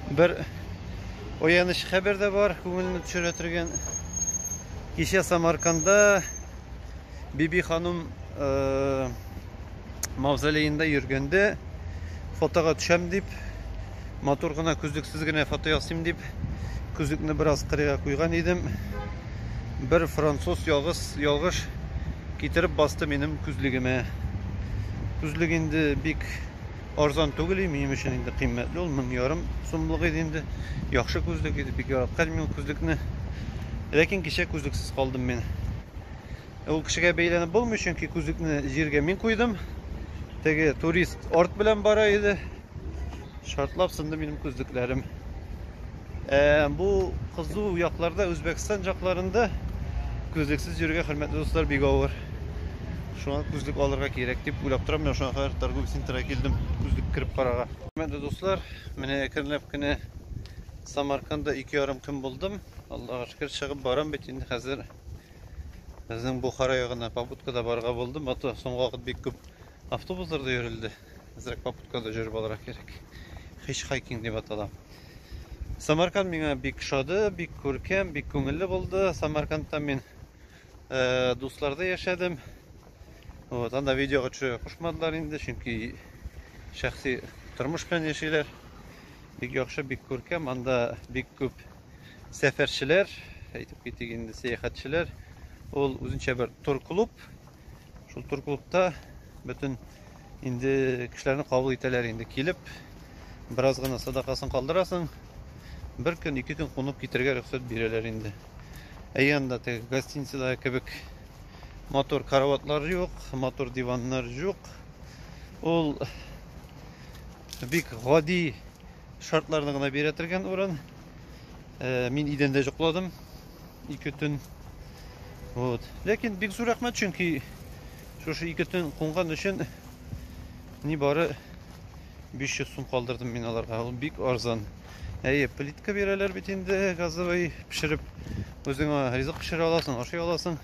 Бер ояныч хәбәр дә бар, күңелне төшерә торган. Кичә Самарканда Биби ханым э, мавзолеенда йөргәндә фотога төшәм дип, матур гына күзлексез генә фото ясыйм дип, күзлекне бераз кырыйга куйган идем. Бер француз ялгыз ялгыш китереп басты минем күзлегемә. Күзлек инде бик Арзан түгел и минем өчен инде кыйммәтле ул, мең ярым сумлык иде инде. Яхшы күзлек иде, бик яраткан мин күзлекне. Ләкин кичә күзлексез калдым мин. Э, ул кешегә бәйләнеп булмый, чөнки күзлекне җиргә мин куйдым. Теге турист арт белән бара иде. Шартлап сынды минем күзлекләрем. Ә, бу кызу якларда, Үзбәкстан якларында күзлексез йөрергә, хөрмәтле дуслар, бик авыр. Шуңа күзлек алырга кирәк дип уйлап торам. Менә шуңа кадәр торговый центрга килдем, күзлек кереп карарга. Хөрмәтле дуслар, менә әкренләп кенә Самарканда ике ярым көн булдым. Аллага шөкер, чыгып барам бит инде хәзер. Безнең Бухара ягына побудкада барга булдым, а то соңгы вакыт бик күп Автобусларда йөрелде. Әзрәк попуткада җөреп алырга кирәк. Хичхайкинг дип атала. Самарканд миңа бик шады, бик күркәм, бик күңелле булды. Самаркандта мин э, дусларда яшәдем. Вот, анда видеога төшерә кушмадылар инде, чөнки шәхси тормыш белән яшиләр. Бик яхшы, бик күркәм, анда бик күп сәфәрчеләр, әйтеп китик инде, сәяхәтчеләр. Ул үзенчә бер тур клуб, Шул тур клубта бөтен инде кешеләрне кабул итәләр инде. Килеп, бераз гына садакасын калдырасың, бер көн, ике көн кунып китергә рөхсәт бирәләр инде. Ә янда теге гостиницада кебек мотор караватлар юк, мотор диваннар юк. Ул бик гади шартларны гына бирә торган урын. Э, мин идәндә йокладым. Ике төн. Вот. Ләкин бик зур рәхмәт, чөнки шушы ике төн кунган өчен ни бары 500 сум калдырдым мин аларга. Ул бик арзан. Әйе, плитка бирәләр бит инде газовый пешереп. Үзеңә ризык пешерә аласың, ашый аласың.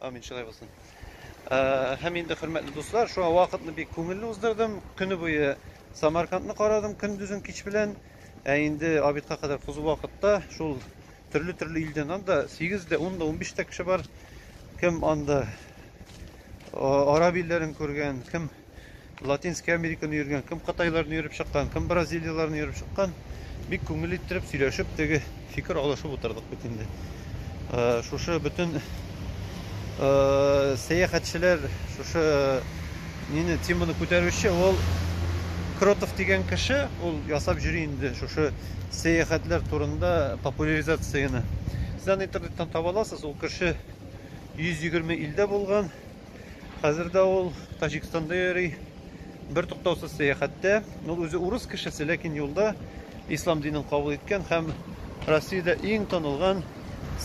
Амин, шулай булсын. Ә, һәм инде хөрмәтле дуслар, шуңа вакытны бик күңелле уздырдым. Көне буе Самаркандны карадым, көндезен кич белән. Ә инде обедка кадәр кызу вакытта шул төрле-төрле илдән анда 8 дә 10 да 15 тә кеше бар. Кем анда араб илләрен күргән, кем Латинская Американы йөргән, кем Кытайларны йөреп чыккан, кем Бразилияләрне йөреп чыккан. Бик күңел иттереп сөйләшеп, теге фикер алышып утырдык бит инде. Э, шушы бөтен э, сәяхәтчеләр шушы э, нине теманы күтәрүче ул Кротов дигән кеше, ул ясап йөри инде шушы сәяхәтләр турында популяризацияне. Сезне интернеттан таба аласыз, ул кеше 120 илдә булган. Хәзер дә ул Таҗикстанда йөри, бер туктаусыз сәяхәттә. Ул үзе урыс кешесе, ләкин юлда ислам динен кабул иткән һәм Россиядә иң танылган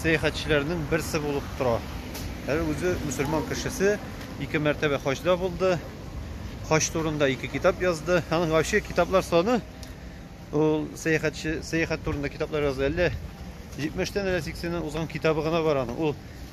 сәяхәтчеләрнең берсе булып тора. Әле үзе мусульман кешесе, ике мәртәбә хаҗда булды. Хаҗ турында ике китап язды. Аның вообще китаплар саны ул сәяхәтче сәяхәт турында китаплар язды. Әллә 70 тән әллә 80 узган китабы гына бар аның. Ул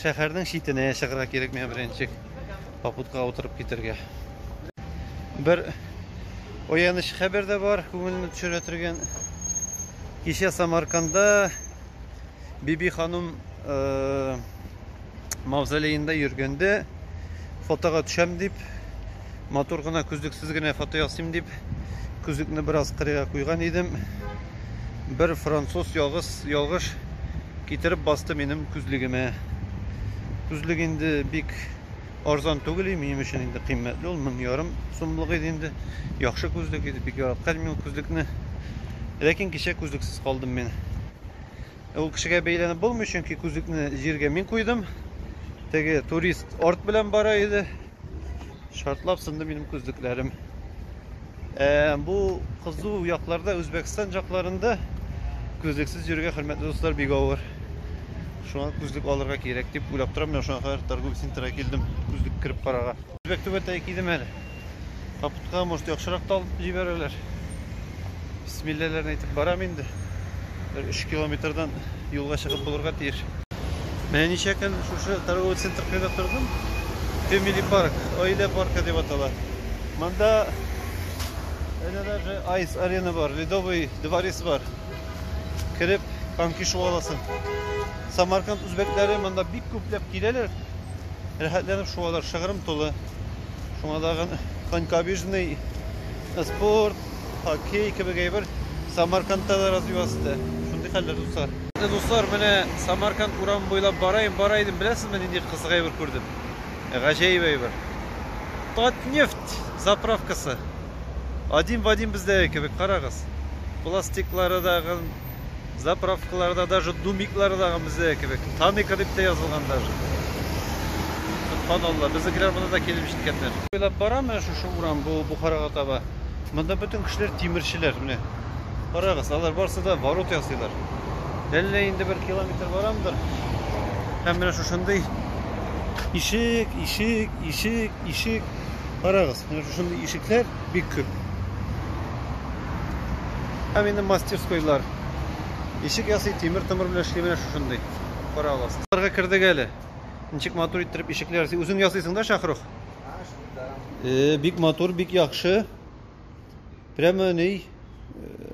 Шәһәрнең читенә чыгарга кирәк миңа беренче попуткага утырып китергә. Бер ояныч хәбәр дә бар, күңелне төшерә торган. Кичә Самарканда Биби ханым э, мавзолеенда йөргәндә фотога төшәм дип Матур гына күзлексез генә фото ясыйм дип, күзлекне бераз кырыйга куйган идем. Бер француз ялгыз ялгыш китереп басты минем күзлегемә. Күзлек инде бик арзан түгел, минем өчен инде кыйммәтле ул, мең ярым сумлык иде инде. Яхшы күзлек иде, бик яраткан мин күзлекне. Ләкин кичә күзлексез калдым мин. Ул кешегә бәйләнеп булмый, чөнки күзлекне җиргә мин куйдым. Теге турист арт белән бара иде. Шартлап сынды минем күзлекләрем. Ә, бу кызу якларда, Үзбәкстан якларында күзлексез йөрергә хөрмәтле дуслар бик авыр. Шуңа күзлек алырга кирәк дип уйлап торам, менә шуңа кадәр торговый центрга килдем, күзлек кереп карарга. Үзбәк түбәтәе кидем әле. Капутка, может, яхшырак та алып җибәрәләр. Бисмилләләрен әйтеп барам инде. Бер 3 километрдан юлга чыгып булырга тиеш. Менә ничә көн шушы торговый центр кыйда тордым. Family Park, Аилә паркы дип атала. Монда әнә даже Ice Arena бар, Ледовый дворец бар. Кереп, коньки шуа аласың. Самарканд үзбәкләре монда бик күпләп киләләр. Рәхәтләнеп шуалар, шыгрым тулы. Шуңа дагы конькобежный Спорт, хоккей кебек әйбер Самаркандта да развиваться итә. Шундый хәлләр, дуслар. Менә, дуслар, менә Самарканд урамы буйлап бара идем, бара идем, беләсезме, нинди кызык әйбер күрдем? Гаҗәеп әйбер. Татнефть заправкасы. Один в один бездәге кебек, карагыз. Пластиклары да, Заправкаларда даже думиклардагы бездә кебек. Таника дип тә язылган даже. Субханалла, безнекеләр монда да килеп җиткәннәр. Уйлап барам, менә шушы урам бу Бухарага таба. Монда бөтен кешеләр тимерчеләр, менә. Карагыз, алар барсы да ворот ясыйлар. Әллә инде бер километр барамдыр. Һәм менә шушындый ишек, ишек, ишек, ишек. Карагыз, менә шушындый ишекләр бик күп. Һәм инде мастерскойлар. Ишек ясый, тимер тымыр белән эшли менә шушындый. Кара аласыз. Аларга кердек әле. Ничек матур иттереп ишекләр ясый. Үзең ясыйсың да, Шахрух? Э, бик матур, бик яхшы. Прямо ни э,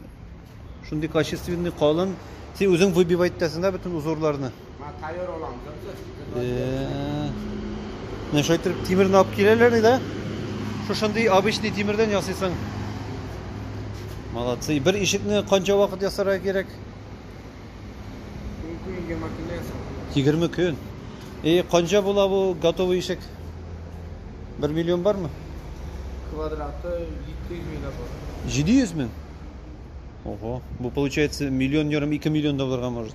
шундый качественный, калын. Син үзең выбивать итәсең да бөтен узорларны. Тайор алам, Менә шулай итеп тимерне алып киләләр иде. Шушындый обычный тимердән ясыйсың. Молодцы. Бер ишекне канча вакыт ясарга кирәк? 20 көн. И канча була бу готовый ишек? 1 миллион бармы? Квадраты 700 миллион бар. 700 миллион? Ого, бу получается миллион ярым 2 миллион долларга может.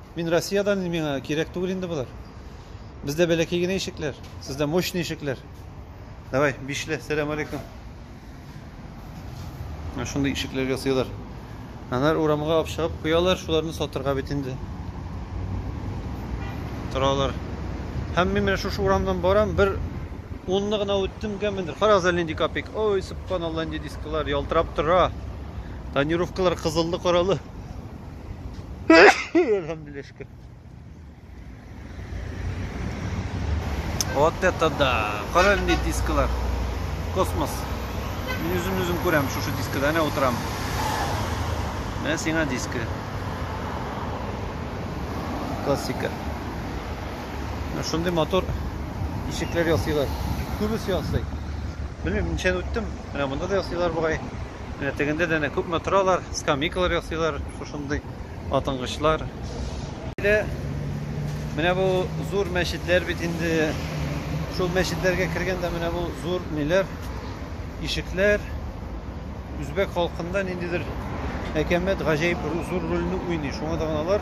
Мин Россиядән, миңа кирәк түгел инде болар. Бездә бәләкәй генә ишекләр, сездә мощный ишекләр. Давай, бишле, сәлам алейкум. Менә шундый ишекләргә сыйлар. Анар урамга алып чыгып куялар, шуларны сатырга бит инде. Торалар. Һәм мин менә шушы урамдан барам, бер унны гына үттем гәмендер. Карагыз әле нинди капик. Ой, субханалла, нинди дисклар ялтырап тора. Тонировкалар кызыллы-каралы. Алхамдулилля шөкер. Вот это да! Параллельные дискалар. Космос. Мин үзем үзем күрәм шушы дискада, әнә утырам. Менә сиңа диска. Классика. Менә шундый мотор ишекләр ясыйлар. Күбесе ясый. Белмим, ничәне үттем. Менә монда да ясыйлар бугай. Менә тегендә дә әнә күпме торалар, скамейкалар ясыйлар, шушындый атынгычлар. Менә бу зур мәчетләр бит инде. Шул мәчетләргә кергәндә менә бу зур ниләр, ишекләр үзбәк халкында ниндидер әкәмәт, гаҗәеп зур рольне уйный. Шуңа да алар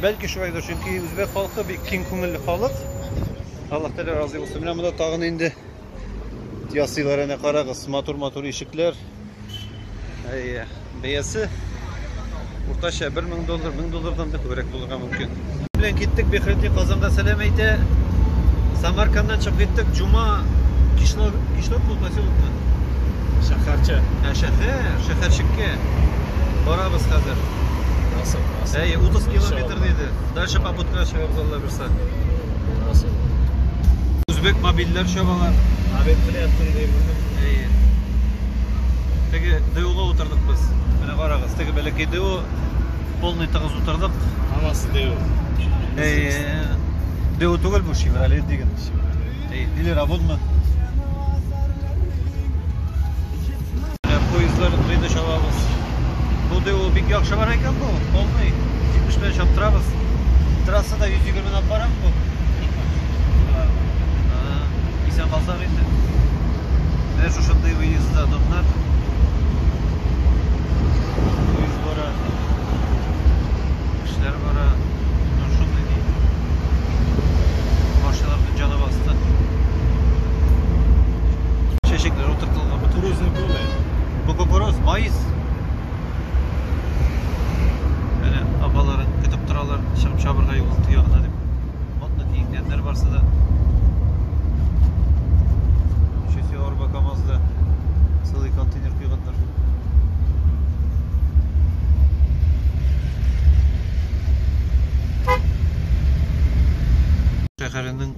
Бәлки шулайдыр, чөнки үзбәк халкы бик киң күңелле халык. Аллаһ Тәгалә разый булсын. Менә монда тагын инде ясыйлар әнә карагыз, матур-матур ишекләр. Әйе, бәясе уртача 1000 доллар, 1000 доллардан да күбрәк булырга мөмкин. Белән киттек Бехрети Казанга сәлам әйтә. Самарканнан чыгып киттек. Җума кишләр кишләр бу поселокны. Шәһәрчә. Ә шәһәр, шәһәрчеккә барабыз хәзер. Кысып кына. Әйе, 30 километр диде. Дальше побудка чыгып залда берса. Булмасын. Үзбек мобильләр чабалар. Абек белә тыңдый булды. Әйе. Теге ДУга утырдык без. Менә карагыз, теге бәләкәй ДУ полный тыгыз утырдык. Анасы ДУ. Әйе. ДУ түгел бу, Шевроле диген. Эй, или работно? Поездлар кыйда чабабыз. Бу да ул бик яхшы бар икән бу. Полный. 70 белән чаптырабыз. Трассада 120 белән алып барам бу. Исән калсак инде. Менә шушындый выезда дымнар. Эшләр бара. Ну, шундый ди. Машиналарның җаны басты. Чәчәкләр утыртылган. Бу туризм күлме? Бу кукуруз, майс. Әнә апалары көтеп торалар, чыгып чабырга юл ягына дип. Модно киенгәннәр барсы да. Чөсе арба КАМАЗда сылый контейнер куйган. Шәһәренең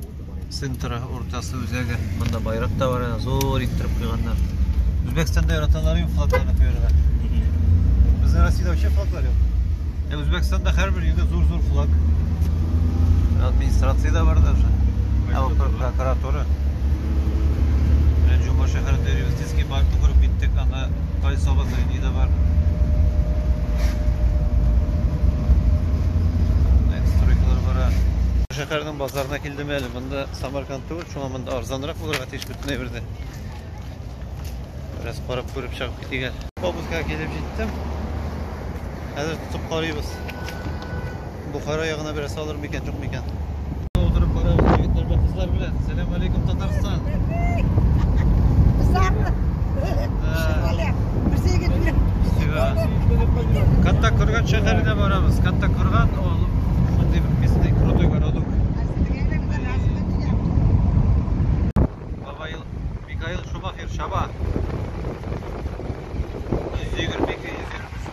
центры, уртасы, үзәге. Монда байрак та бар, зур иттереп куйганнар. Үзбәкстанда яраталар инде флагларны куярга. Бездә Россиядә вообще флаглар юк. Ә Үзбәкстанда һәрбер өйдә зур-зур флаг. Администрация да бар даже. Ә прокуратура. Җомга шәһәрендә Советский паркны күреп киттек, анда кайсы обозрение да бар. Стройкалар бара. Шәһәрнең базарына килдем әле. Монда Самарканд түгел, шуңа монда арзанрак булырга тиеш бөтен әйбердә. Бераз карап күреп чыгып китик әле. Автобуска килеп җиттем. Хәзер тотып карыйбыз. Бухара ягына бераз салыр микән, юк микән? Утырып барабыз егетләр белән, кызлар белән. Сәлам алейкум, Татарстан. Кызларны. Бер егет белән. Катта Курган шәһәренә барабыз. Катта Курган, ул шундый бер местный крутой городок. Михаил, Михаил Шумахер, Шаба. 122, 123.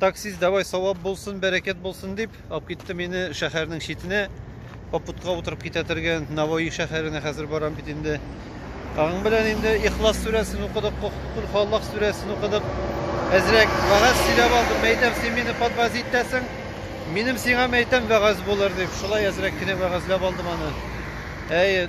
Таксист, давай савап булсын, бәрәкәт булсын дип, алып китте мине шәһәрнең читенә. Попутка утырып китә торган Наваи шәһәренә хәзер барам бит инде. Аның белән инде Ихлас сүрәсен укыдык, Кул Халлах сүрәсен укыдык. Әзрәк вагаз сөйләп алдым, мәйтәм, син мине подваз итәсең. Минем сиңа мәйтәм вагаз булыр дип, шулай әзрәк кенә вагазлап алдым аны. Әй,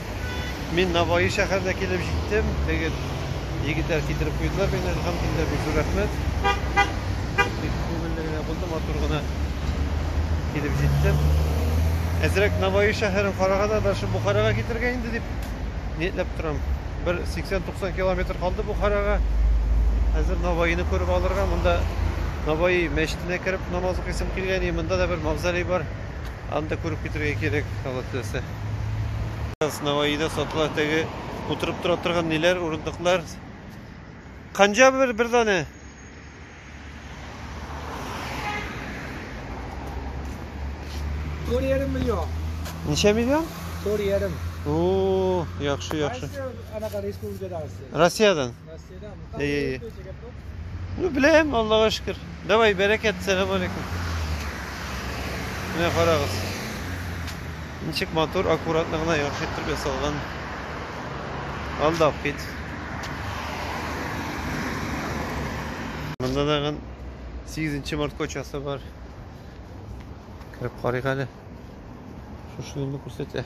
Мин Наваи шәһәренә килеп җиттем. Теге егетләр китереп куйдылар мине, әлхәмдулилләһ, бик зур рәхмәт. Бик күңелле генә булды, матур гына килеп җиттем. Әзрәк Наваи шәһәрен караганда дальше Бухарага китергә инде дип ниетләп торам. Бер 80-90 километр калды Бухарага. Хәзер Наваины күреп алырга, монда Наваи мәчетенә кереп намаз укыйсым килгән, и монда да бер мавзолей бар. Аны да күреп китергә кирәк, Алла теләсә. Наваида сатыла теге утырып тора торган ниләр, урындыклар. Канҗа бер бер даны. Тор ярым миллион. Ничә миллион? Тор ярым. О, яхшы, яхшы. Кайсы анака республикадагысы? Россиядән. Мәскәүдә мутан Эй. булып җигеп тот. Ну, беләм, Аллага шөкер. Давай, бәрәкәт, сәлам алейкум. Менә карагыз. Ничек матур, аккуратно гына яхшы итеп ясалган. Алдап кит. Монда тагын 8 март кочасы бар. Кереп карыйк әле. Шушы юлны күрсәтә.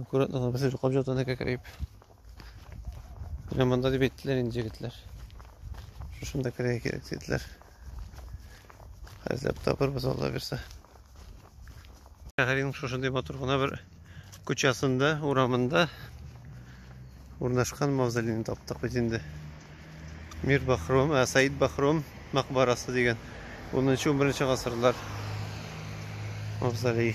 Аккуратно гына бер җоклап жатуны кәкрәеп. Менә монда дип әйттеләр инде егетләр. Шушында керә кирәк диделәр. Хәзер табырбыз Алла бирсә. Шәһәрнең шушындый матур гына бер күчәсендә, урамында урнашкан мавзолейны таптык бит инде. Мир Бахром, ә Саид Бахром мәкбарасы дигән 10-11 гасырлар мавзолей.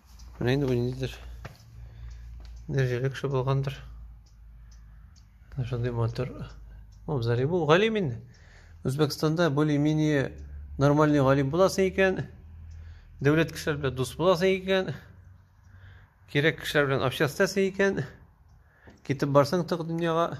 Менә инде бу ниндидер дәрәҗәле кеше булгандыр. Шундый матур абзарый бу. Галим инде. Үзбәкстанда более-менее нормальный галим буласың икән, дәүләт кешеләр белән дус буласың икән, кирәк кешеләр белән общаться икән, китеп барсаң тык дөньяга.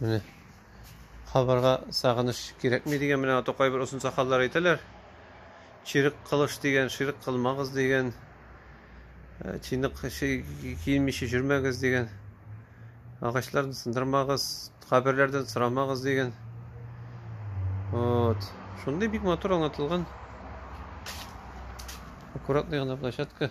Менә кабырга сагыныш кирәкми дигән менә ата кайбер озын сакаллар әйтәләр. Чирек кылыш дигән, ширек кылмагыз дигән, э, чинык киенмичә жүрмәгез дигән, агачларны сындырмагыз, каберләрдән сорамагыз дигән. Вот. Шундый бик матур аңлатылган. Аккуратный гына площадка.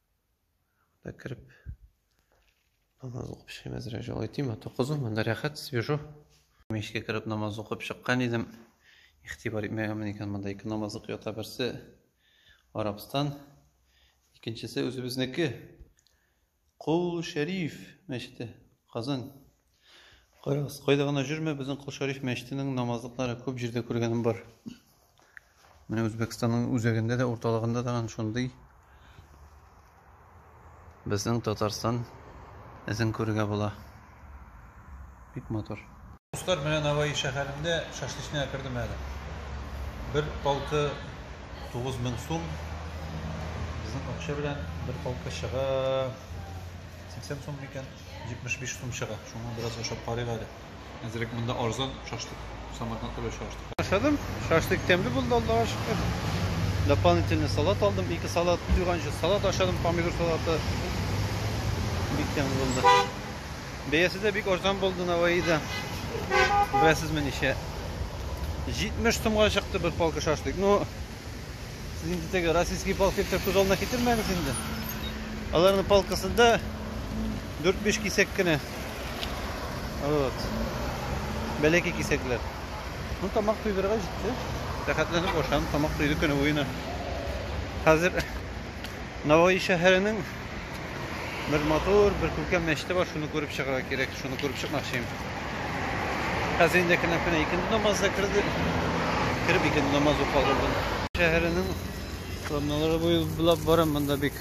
Монда кереп намаз укып чыгыйм әзрәк җылы тиме токызу монда рәхәт свежо мешкә кереп намаз укып чыккан идем игътибар итмәгәнмен икән монда ике намаз укып ята берсе арабстан икенчесе үзебезнеке кул шәриф мәчете казан Карагыз, кайда гына җөрмә, безнең Кол Шариф мәчетенең намазлыклары күп җирдә күргәнем бар. Менә Үзбәкстанның үзәгендә дә, урталыгында да ан шундый безнең Татарстан эзен күрергә була. Бик матур. Дуслар, менә Наваи шәһәрендә шашлычныйга кердем әле. Бер палка 9000 сум. Безнең акча белән бер палка чыга 80 сум микән? 75 сум чыга. Шуңа бераз ашап карыйк әле. Әзрәк монда арзан шашлык Самаркандта белән чагыштырганда. Ашадым. Шашлык тәмле булды, Аллага шөкер. Дополнительный салат алдым. Ике салат, туйганчы салат ашадым, помидор салаты. Бик тәмле булды. Бәясе дә бик арзан булды Наваида. Беләсезме ничә? 70 сумга чыкты бер палка шашлык. Ну, Сез инде теге российский палкиттер күз алдына китермәгез инде. Аларның палкасында 4-5 кисәк кенә. Вот. Бәләкәй кисәкләр. Ну тамак туйдырырга җитте. Рәхәтләнеп ашам, тамак туйды көне буена. Хәзер Наваи шәһәренең Бер матур, бер күркәм мәчете бар, шуны күреп чыгарга кирәк, шуны күреп чыкмакчыйм. Хәзер инде кенә кенә икенче намаз да керде. Кереп икенче намаз укып алдым. Шәһәренең Ламналары буйлап барам, монда бик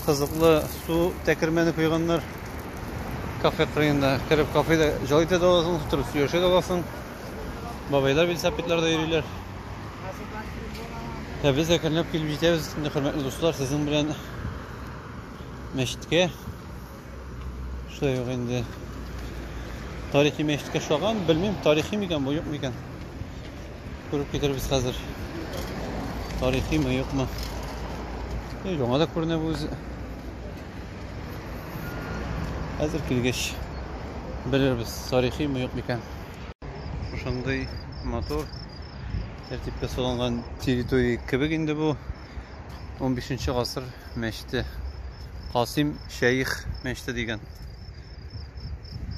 кызыклы су тәкермәне куйганнар. Кафе кырыенда кереп кафеда җылы итә дә аласың, утырып сөйләшә дә аласың. Бабайлар велосипедларда йөриләр. Ә без әкренләп килеп җитәбез. Инде хөрмәтле дуслар, сезнең белән мәчеткә шулай ук инде тарихи мәчеткә ошаган белмим тарихи микән бу юкмы икән күреп китербез хәзер тарихимы юкмы яңа да күренә бу үзе хәзер килгәч белербез тарихимы юк микән шушындый матур тәртипкә салынган территория кебек инде бу 15 гасыр мәчете. Касим Шәих мәчете дигән.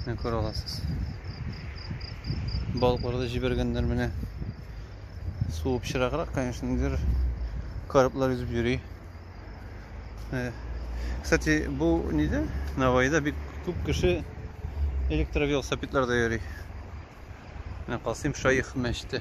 Менә күрә аласыз. Балыкларда җибәргәннәр менә. Су пычраграк, конечно, нидер караплар йөзеп йөри. Э, кстати, бу ниде? Навайда бик күп кеше электровелосипедларда йөри. Менә Касим Шәих мәчете.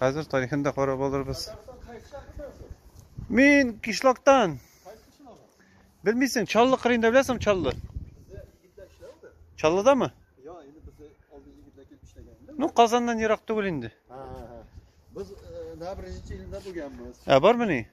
Хәзер тарихын да карап алырбыз. Мин кишлактан. Белмисең, Чаллы кырында беләсең Чаллы? Чаллыда мы? Я, инде без алды егетләр килеп эшләгән. Ну, Казаннан ерак түгел инде. Без Набережный илендә булганбыз. Ә бармы ни?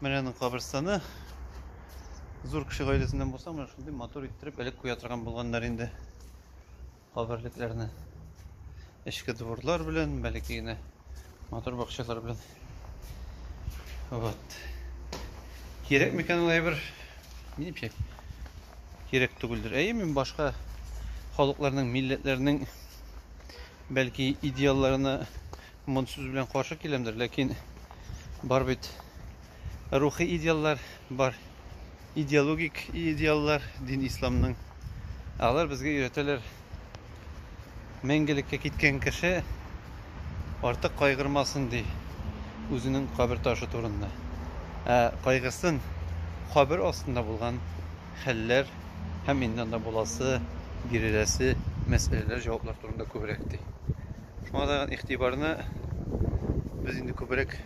Менә аның каберстаны. Зур кеше гаиләсеннән булса, менә шундый матур иттереп элек куя торган булганнар инде. Каберлекләрне. Эчке дворлар белән, бәләкәй генә матур бакчалар белән. Вот. Кирәк микән ул әйбер? Минемчә, кирәк түгелдер. Әйе, мин башка халыкларның, милләтләрнең бәлки идеалларына Мондый сүз белән каршы киләмдер, ләкин бар бит рухи идеаллар, бар идеологик идеаллар дин исламның. Алар безгә өйрәтәләр. Мәңгелеккә киткән кеше артык кайгырмасын ди үзенең кабер ташы турында. Ә кайгысын кабер астында булган хәлләр һәм инде анда буласы, биреләсе мәсьәләләр, җаваплар турында күбрәк ди. Шуңа да игътибарны без инде күбрәк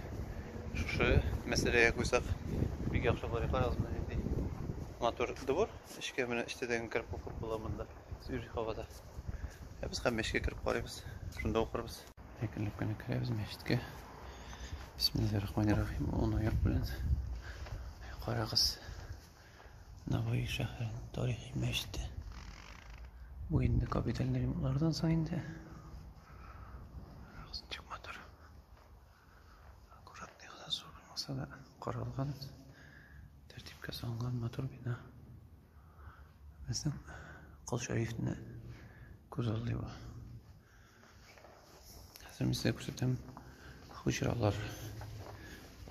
шушы мәсьәләгә куйсак, бик яхшы булыр. Карагыз, менә нинди матур двор. Эчкә менә эчтәдән кереп укып була монда. Свежий һавада. Ә без һәм мәчеткә кереп карыйбыз. Шунда укырбыз. Әкренләп кенә керәбез мәчеткә. Бисмиллаһир рахманир рахим. Он аяк белән. Карагыз. Navoiy шәһәренең тарихи мәчете. Бу инде капиталь ремонтлардан соң инде. Чыкмадыр. Аккуратный гына зур булмаса да каралган, тәртипкә салынган матур бина. Безнең Кол Шәрифне күз алдый бу. Хәзер мин сезгә күрсәтәм хуҗралар.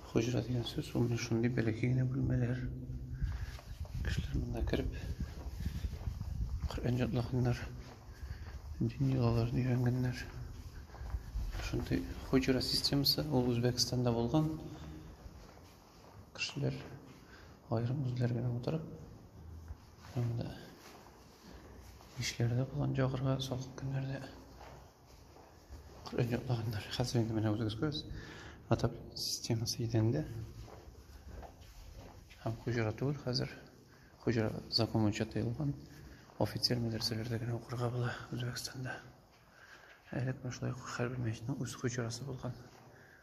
Хуҗра дигән сүз ул менә шундый бәләкәй генә бүлмәләр. Кешеләр монда кереп Коръән җатлаганнар, дин йолаларын өйрәнгәннәр. Шундый хуҗра системасы ул Үзбәкстанда булган. Кешеләр аерым үзләр генә утырып, анда ишләрдә булган җагырга салкын көннәрдә Коръән ятлаганнар. Хәзер инде менә үзегез күрәсез, атап системасы идәндә. Һәм хуҗра түгел хәзер. Хуҗра закон буенча тыелган. Офицер мәдрәсәләрдә генә укырга була Үзбәкстанда. Әле менә шулай хәрби мәчетнең үз хуҗрасы булган.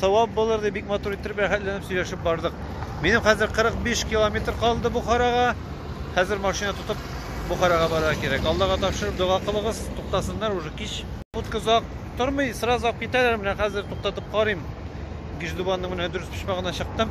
Савап булыр дип, бик матур иттереп, рәхәтләнеп сөйләшеп бардык. Минем хәзер 45 километр калды Бухарага. Хәзер машина тотып Бухарага барырга кирәк. Аллага тапшырып дога кылыгыз, туктасыннар уже кич. Утка озак тормый, сразу алып китәләр. Менә хәзер туктатып карыйм. Гиждубанның менә дөрес почмагына чыктым.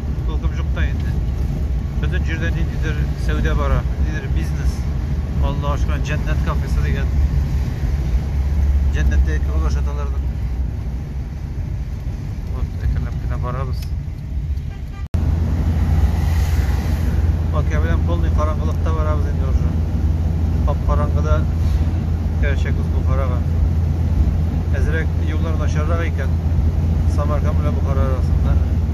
Куркып җук та инде. Бөтен җирдә ниндидер сәүдә бара, ниндидер бизнес. Алла ашкан җәннәт кафесы дигән. Җәннәттә кебек ашаталар да. Вот, әкренләп кенә барабыз. Бакия белән полный караңгылыкта барабыз инде уже. Кап караңгыда керәчәкбез Бухарага. Әзрәк юллар начаррак икән. Самарканд белән Бухара арасында.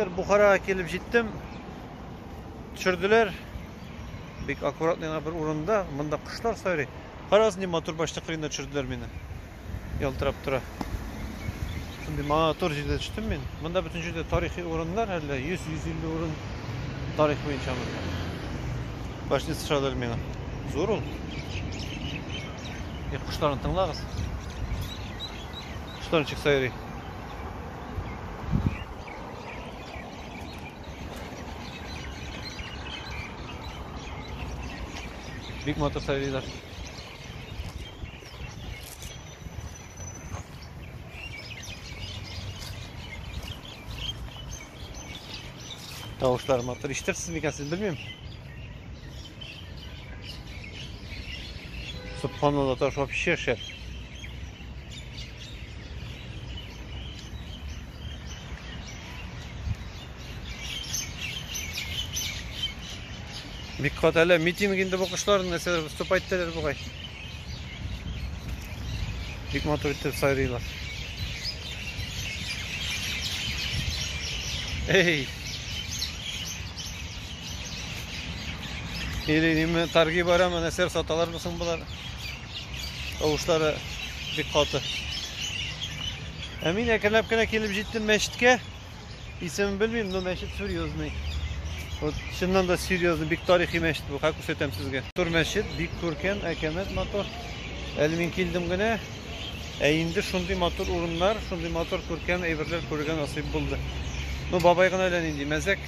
Хәзер Бухарага килеп җиттем. Төшерделәр. Бик аккуратный гына бер урында. Монда кошлар сайрый. Карагыз, ни матур башта кырыенда төшерделәр мине. Ялтырап тора. Шундый матур җирдә төштем мин. Монда бөтен җирдә тарихи урыннар, әллә 100-150 урын тарих буенча монда. Башны сышадылар миңа. Зур ул. Е, кошларны тыңлагыз. Штон чыкса йөри. Бик матур сайрыйлар. Тавышлар матур. Иштерсез микән сез белмим. Субханалла таш вообще шәп. Бик кат әле митинг инде бу кошлар нәрсәләр выступать итәләр бугай. Бик матур итеп сайрыйлар. Эй! Или неме торги барамы, нәрсәләр саталар булсын болар? Тавышлары бик каты. Ә мин әкренләп кенә килеп җиттем мәчеткә. Исемен белмим, но мәчет серьезный. Вот чыннан да серьезный, бик тарихи мәчет бу, ха күрсәтәм сезгә. Тур мәчет бик күркәм, әкәмәт матур. Әле мин килдем генә. Ә инде шундый матур урыннар, шундый матур күркәм әйберләр күргән насыйп булды. Ну, бабай гына әллә нинди мәзәк.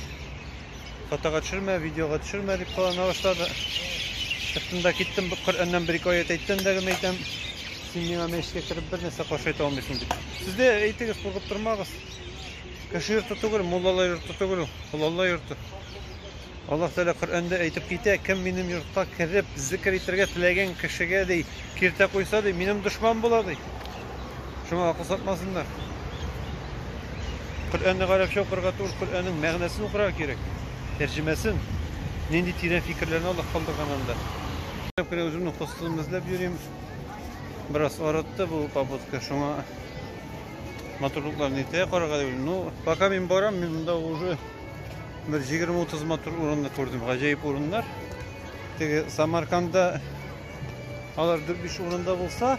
фотога төшермә, видеога төшермә дип кылана башлады. Чыктым да киттем, Коръәннән бер-ике аять әйттем дә генә әйтәм, син миңа мәчеткә кереп бер нәрсә каршы әйтә алмыйсың дип. Сез дә әйтегез, куркып тормагыз. Кеше йорты түгел, муллалар йорты түгел ул, ул Алла йорты. Аллаһ Тәгалә Коръәндә әйтеп китә, кем минем йортка кереп, зикер итәргә теләгән кешегә ди, киртә куйса ди, минем дошман була ди. Шуңа акыл сатмасыннар. Коръәнне гарәпчә укырга түгел, Коръәннең мәгънәсен укырга кирәк. Тәрҗемәсен. Нинди тирән фикерләрне Аллаһ калдырган анда. Күп кенә үземнең костылымны эзләп йөрим. Бераз арытты бу попытка, шуңа матурлыкларын иртәгә карарга дип уйлыйм. Ну, пока мин барам, мин монда уже бер 20-30 матур урынны күрдем. Гаҗәеп урыннар. Теге Самарканда алар 4-5 урында булса,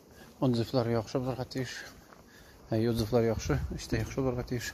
Отзывлар яхшы булырга тиеш. Әйе, отзывлар яхшы, эш тә яхшы булырга тиеш.